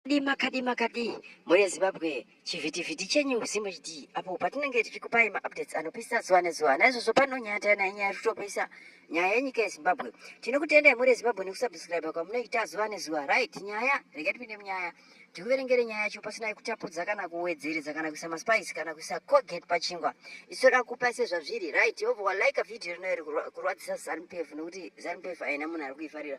Kadi makadi makadi mune Zimbabwe chivhitivhiti chenyu ZimHD apo patinenge tichikupai maupdates anopisa zuva nezuva naizvozvo pano nyaya tayana yenyaya iri kutopisa nyaya yenyika yeZimbabwe tinokutendai mhuri yeZimbabwe nekusubscribe kwamunoita zuva nezuva right nyaya regai tipinde munyaya tikuverengere nyaya yacho pasina yekutapudza kana kuwedzeredza kana kuisa maspice kana kuisa colgate pachingwa isoda kupa sezvazviri right obva walike vhidhiyo rino iri kurwadzisa zanupf nekuti zanupf haina munhu ari kuifarira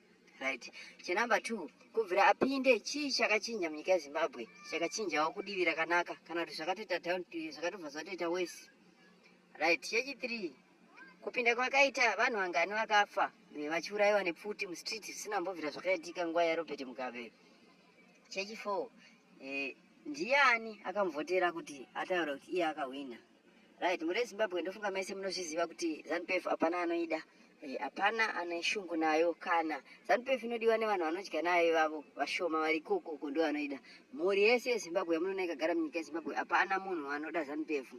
right chenumber two kubvira apinde chii chakachinja munyika yezimbabwe chakachinjawo kudivi rakanaka kana kuti zvakatoita down to zvakatobva zvatoita wese right chechithree kupinda kwakaita vanhu vangani vakafa vachiurayiwa nepfuti mustreet zvisina mbovira zvakaitika nguva yarobert mugabe chechifour eh, ndiani akamuvhotera kuti ataura kuti iye akahwina Right, muri Zimbabwe ndofunga mese munozviziva kuti ZanuPF hapana anoida. Eh, hapana e, ane shungu nayo kana ZanuPF inodiwa nevanhu vanodya nayo ivavo vashoma vari koko uko ndo vanoida. Mhuri yese yeZimbabwe yamunoona ikagara munyika yeZimbabwe hapana munhu anoda ZanuPF.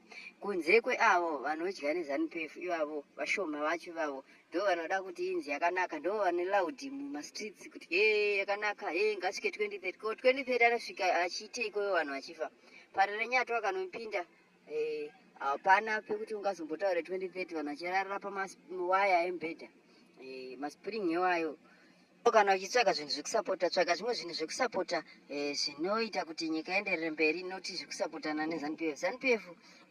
Kunze kweavo vanodya neZanuPF ivavo vashoma vacho ivavo ndo vanoda kuti inzi yakanaka ndo vane loud mumastreets kuti he yakanaka he ngasvike 2030 ko 2030 anosvika achiite ikoyo vanhu vachifa. Pari renyatwa kanopinda Eh, hapana pekuti ungazombotaure 2030 vanhu vachirarira pamawaya embhedha eh, maspring iwayo kana uchitsvaga zvinhu zvekusapota tsvaga zvimwe zvinhu zvekusapota eh, zvinoita kuti nyika ienderere mberi noti zvekusapotana nezanup f zanup f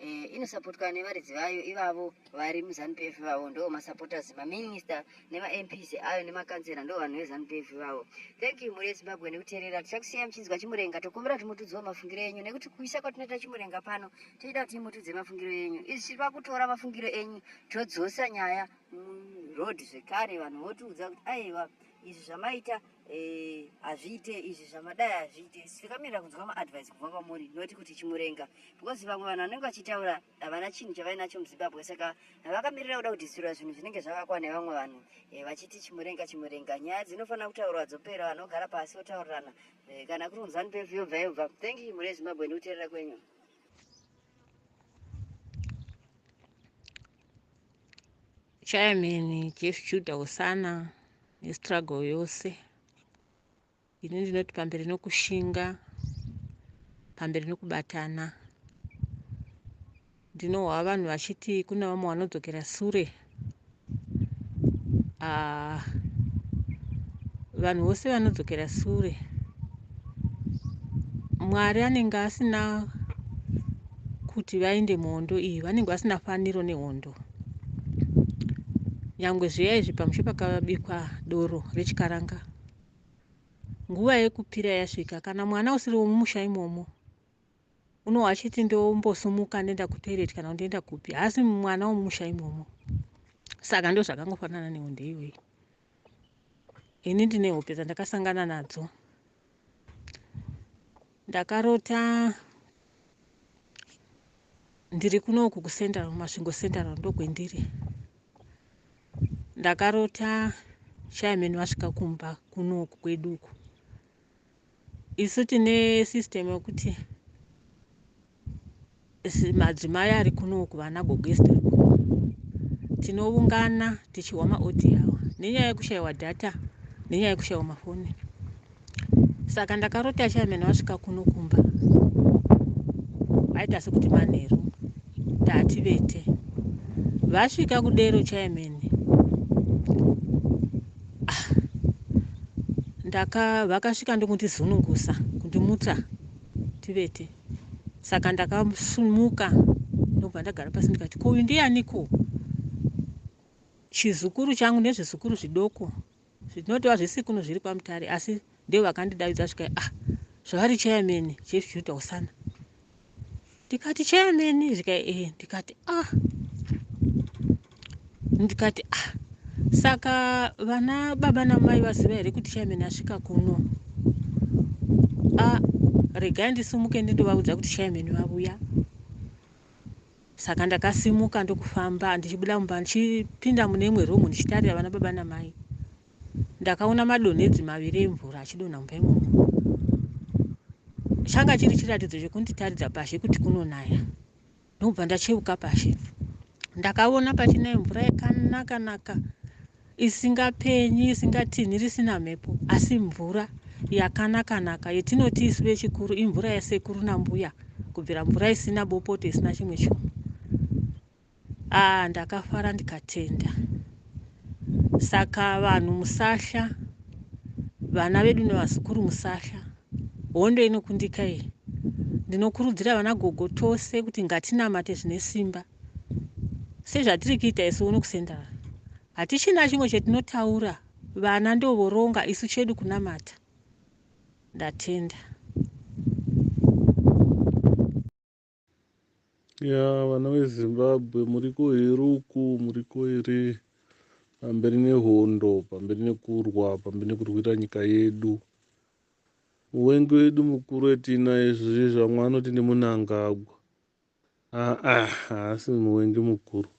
eh, inosapotwa nevaridzi vayo ivavo vari muzanup f ivavo ndo masapotas maminista nemaMPs ayo nemakanzera ndo vanhu veZanu PF ivavo. Thank you mhuri yeZimbabwe nekuterera. Tichakusiyai muchinzwa Chimurenga. Tokumbira kuti mutudziwo mafungiro enyu nekuti kuisa kwatinoita Chimurenga pano toida kuti mutudze mafungiro enyu. Izvi tiri pakutora mafungiro enyu todzosa nyaya muroad zvekare vanhu votiudza kuti aiwa izvi zvamaita eh, hazviite izvi zvamadai hazviite. Tikamirira kunzwa maadvice kubva kwamuri not kuti Chimurenga because vamwe vanhu vanenge vachitaura havana chinhu chavainacho muzimbabwe saka vakamirira kuda kudhisirwa zvinhu zvinenge zvavakwa nevamwe vanhu e, vachiti chimurenga chimurenga nyaya dzinofanira kutaurwa dzopera vanhu vogara pasi votaurirana e, kana kuri kunzani pefu yobva yobva thank you mhuri yezimbabwe ndikuteerera kwenyu chairman jeff juda usana nestruggle yose ini ndinoti pamberi nokushinga pamberi nokubatana ndinohwa vanhu vachiti kune vamwe vanodzokera sure uh, vanhu vose vanodzokera sure mwari anenge asina kuti vaende muhondo iyi vanenge vasina faniro nehondo nyangwe zviya izvi pamushe pakabikwa doro rechikaranga nguva yekupira yasvika kana mwana usiri wemumusha imomo unowa achiti ndombosumuka ndoenda kutoilet kana ndoenda kupi haasi mwana wemumusha imomo saka ndo zvakangofanana nehonde iyoyi ini ndine hope dzandakasangana nadzo ndakarota ndiri kunoku kucentral masvingo central ndokwendiri ndakarota shaimeni vasvika kumba kunoku kwedu uku isu tine system yekuti madzimai ari kunoku vana gogesta tinoungana tichihwa maodiawa nenyaya yekushayiwa data nenyaya yekushayiwa mafoni saka ndakarota chairman wasvika kuno kumba aita sekuti manheru ndati vete vasvika kudero chairman ah, ndaka vakasvika ndokundizunungusa kundimutsa tivete saka ndakasumuka ndobva ndagara pasi ndikati ko uyu ndiyaniko chizukuru changu nezvizukuru zvidoko Zvinotova zvisikunu zviri kwaMutare asi ndivo vakandidavidza zvikai ah zvavari chairman Chief Juda Usana. Ndikati chairman zvikai eh ndikati ah ndikati ah saka vana baba namai vaziva here kuti chairman asvika kuno a ah, regai ndisumuke ndindovaudza kuti chairman vavuya Saka ndakasimuka ndokufamba ndichibuda mumba ndichipinda mune imwe room ndichitarira vana baba namai. Ndakaona madonhedzi maviri emvura achidonha mumba imomo. Changa chiri chiratidzo chekunditaridza pazhe kuti kunonaya. Ndokubva ndacheuka pazhe. Ndakaona pachinaye mvura yakanaka naka. isingapenyi, isingatinhiri, isina mhepo asi mvura yakanaka-naka yetinoti isu vechikuru imvura yasekuru nambuya kubvira mvura isina bopoto isina chimwe chunhu. Aa ah, ndakafara ndikatenda. Saka vanhu musahla, vana vedu nevazukuru musahla, hondo inokundika iyi. Ndinokurudzira vana gogo tose kuti ngatinamate zvine simba. sezvatiri kuita isu uno kusenda vanhu hatichina chimwe chetinotaura vana ndovoronga isu chedu kunamata ndatenda ya vana vezimbabwe muriko here uku muriko here pamberi nehondo pamberi nekurwa pamberi nekurwira nyika yedu uwengi wedu mukuru etinaye zvizvi zvamwe anoti ndimunangagwa Haa haasi muvengi mukuru.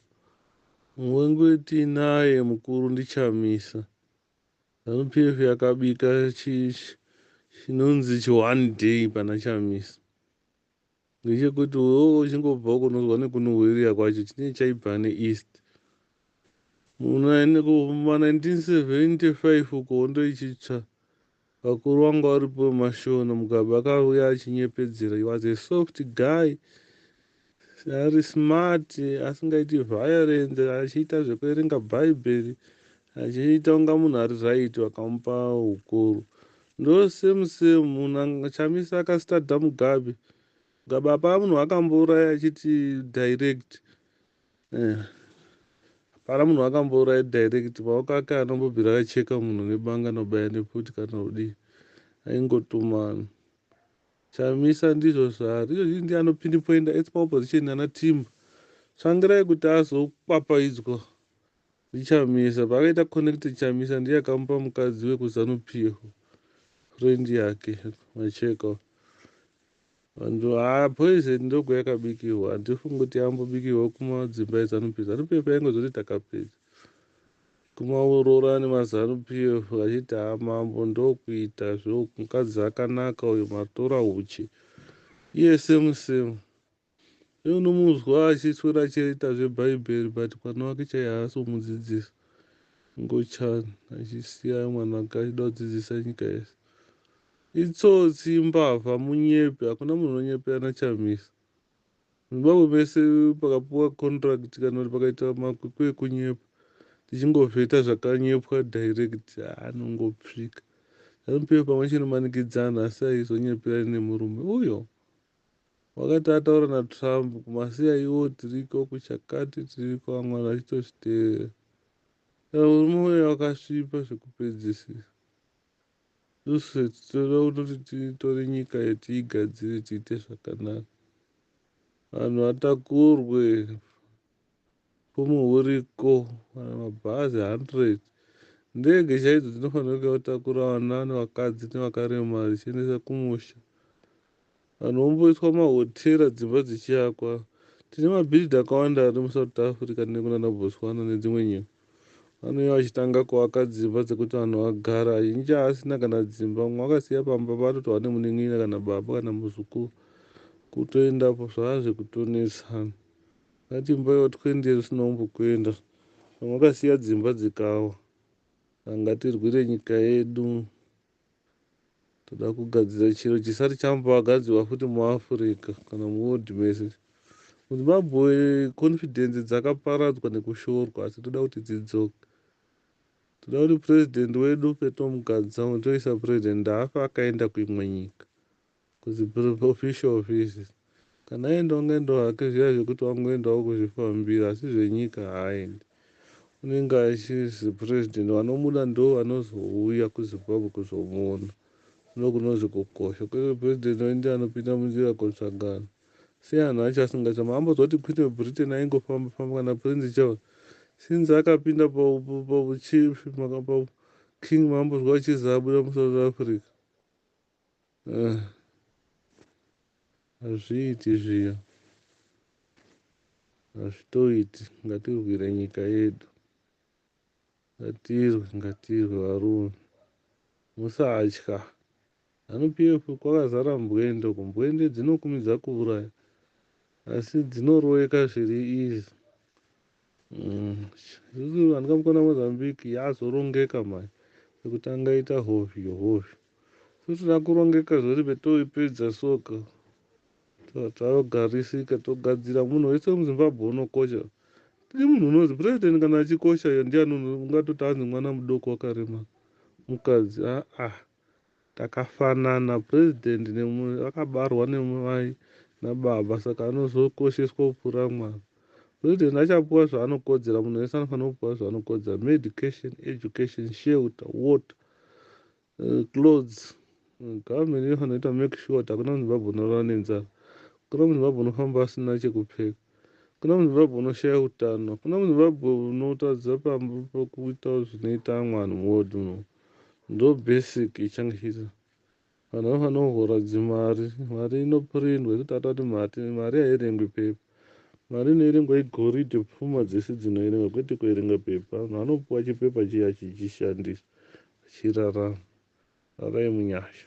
Muvengi wetinaye mukuru ndiChamisa. Zanu PF yakabika chi, chi, chinonzi chi one day pana Chamisa. Ndechekuti wewo uchingobva uko unozwa nekunuhwirira kwacho chinenge chaibva neEast. Muna kuma 1975 uko hondo ichitsva Vakuru vanga varipo vemashona Mugabe akauya achinyepedzera he was a soft guy ari smart asingaiti violence achiita zvekuerenga bhaibheri achiita kunga munhu ari right vakamupa ukuru ndo same same munhu Chamisa akastada Mugabe Mugabe apaa munhu akambouraya achiti direct Eh. Hapana munhu wakambouraya direct paukaka anombobvira acheka munhu nebanga anobaya neputi kana kudii aingotumana chamisa ndizvo zvaari izvo zii ndiye anopinipoinda ets paopposition ana timba tsvangirai kuti azokwapaidzwa ndichamisa paakaita connected chamisa ndiye akamupa mukadzi wekuzanupiho friend yake macheka Vanhu haa poison ndogo yakabikihwa handifungi kuti yambobikihwa kumadzimba eZanu PF. Zanu PF yaingozoti takapedza kumaurora nemaZanu PF vachiti haa mambo ndokuita zveuku mukadzi akanaka uyu matora huchi iye same same iye unomuzwa achiswera achiita zvebhaibheri but mwana wake chaiye haasi kumudzidzisa ngochani achisiya mwana wake achida kudzidzisa nyika yese Itsotsi imbavha munyepi hakuna munhu unonyepera naChamisa. MuZimbabwe mese pakapiwa contract kana kuti pakaita makwikwi ekunyepa tichingovheta zvakanyepwa direct anongopsika. Zanu PF pamwe chinomanikidzana asi haizonyeperani nemurume uyo. Wakati ataura naTrump kumasiya iwo tiriko kuchakati tiriko amwana vachitozviteerera. Saka murume uyo akasvipa zvekupedzisira. Tose tinoda kuti titore nyika iyi tiigadzire tiite zvakanaka. Vanhu vatakurwe fumo huriko kana mabhazi 100 ndege chaidzo dzinofanira kuya kutakura vana nevakadzi nevakaremara dzichiendesa kumusha Vanhu vomboiswa mahotera dzimba dzichiakwa. Tine mabhiridha akawanda ari muSouth Africa nekunana Botswana nedzimwe nyika. Vanouya vachitanga kuaka dzimba dzekuti vanhu vagara. Azhinji haasina kana dzimba, mumwe akasiya pamba paatotova nemunin'ina kana baba kana muzukuru. Kutoendapo zvava zvekutonetsa. Ungati imba yotwe ndiye usina kumbokuenda. Vamwe vakasiya dzimba dzikawa. Saka ngatirwire nyika yedu. Toda kugadzira chiro chisati chambogadzirwa futi muAfrica kana muworld mese. MuZimbabwe confidence dzakaparadzwa nekushorwa asi toda kuti dzidzoke. Toda kuti president wedu Peter Mugadzango toisa president afa akaenda kuimwe nyika. Kuti proof official offices kana aenda ungaendawo hake zviya zvekuti wangoendawo kuzvifambira asi zvenyika haaendi unenge achisi president vanomuda ndovanozouya kuzimbabwe kuzomuona ndokunonzi kukosha kwete president oindia anopinda munzira kotsvagana sei anhu acho asingachama ambonzwa kuti queen webritain aingofamba famba kana prince charles since akapinda pachief makapabu king mambonzwa achizi abuda musouth africa Eh, hazviiti zviya hazvitoiti ngatirwire nyika yedu ngatirwe ngatirwe varume musatya zanu pf kwakazara mbwende uko mbwende dzinokumidza kuuraya asi dzinoroyeka zviri izi Mm. Zuzu handika mukona Mozambique yazorongeka mai yekutanga ita hovyo hovyo futi rakurongeka zvori betoipedza soka Ta- tarogarisika togadzira munhu wese muzimbabwe unokosha tiri munhu unozi president kana achikosha iyo ndiani uno- ungatoti anzi mwana mudoko wakarema mukadzi aa Takafanana president nemu akabarwa nemai nababa saka anozokosheswa kupfuura mwana. President achapuwa zvaanokodzera munhu wese anofanira kupuwa zvaanokodzera medication, education, shelter, water, uh, clothes. Eh, government inofanira kuita make sure kuti hakuna muzimbabwe unorara nenzara. Hakuna muzimbabwe unofamba asina chekupfeka. Hakuna muzimbabwe unoshaya utano. Hakuna muzimbabwe unotadza pamba pokuita zvinoita amwe anhu muwodhi muno. Ndo basic ichange ichiita. Vanhu vanofanira kuhora dzimari. Mari inoprindwa yekuti atati mati mari haierengwi pepa. Mari inoerengwa igoridhe pfuma dzese dzinoerengwa kwete kuerenga pepa. Vanhu vanopuwa chipepa chiya achichishandisa achirarama. Rarai munyasha.